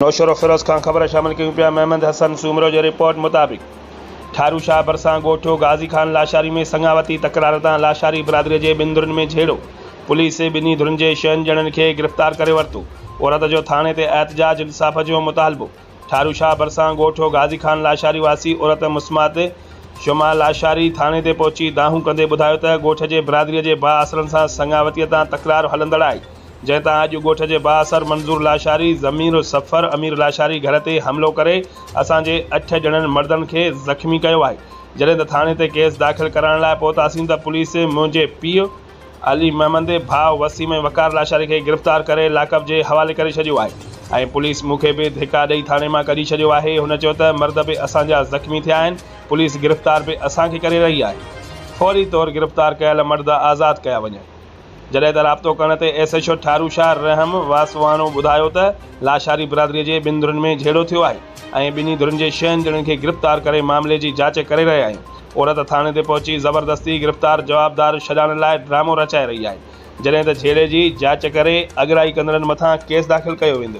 نوشهروفيروز کان خبر شامل ڪيون پيا محمد حسن سومرو جي رپورٽ مطابق ٺارو شاهه ڀرسان ڳوٺيو غازي خان لاشاري ۾ سڱاوتي تڪرار تان لاشاري برادري جي ٻن ڌرين ۾ جهيڙو پوليس ٻنهي ڌرين جي شهن ڄڻن کي گرفتار ڪري ورتو عورت جو ٿاڻي تي احتجاج انصاف جو مطالبو ٺارو شاهه ڀرسان ڳوٺيو غازي خان لاشاري واسي عورت مسمات شمع لاشاري ٿاڻي تي پهچي دانهون ڪندي ٻڌايو ته ڳوٺ جي برادري جي بااثرن سان سڱاوتي تان تڪرار هلندڙ آهي جنهن تان اڄ ڳوٺ جي بااثر منظور لاشاري، ضمير السفر امير لاشاري گهر تي حملو ڪري اسان جي اٺ ڄڻن مردن کي زخمي ڪيو آهي. جڏهن ته ٿاڻي تي ڪيس داخل ڪرائڻ لاء پهتاسين ته پوليس منهنجي پيء علي محمد، ڀاء وسيم ۽ وقار لاشاري کي گرفتار ڪري لاڪ اپ جي حوالي ڪري ڇڏيو آهي ۽ پوليس مون کي به ڌڪا ڏئي ٿاڻي مان ڪڍي ڇڏيو آهي. هن چيو ته مرد به اسان جا زخمي ٿيا آهن، پوليس گرفتار به اسان کي ڪري رهي آهي. فوري طور گرفتار ڪيل مرد آزاد ڪيا وڃن. جڏهن ته رابطو ڪرڻ تي S H O Tharo Shah Rahim Waswano ٻڌايو ته لاشاري برادري جي ٻن ڌرين ۾ جهيڙو ٿيو آهي ۽ ٻنهي ڌرين جي ڇهن ڄڻن کي گرفتار ڪري معاملي جي جاچ ڪري رهيا آهيون عورت ٿاڻي تي پهچي زبردستي گرفتار جوابدار ڇڏائڻ لاء ڊرامو رچائي رهي آهي جڏهن ته جهيڙي جي جاچ ڪري اڳرائي ڪندڙن مٿان ڪيس داخل ڪيو ويندو.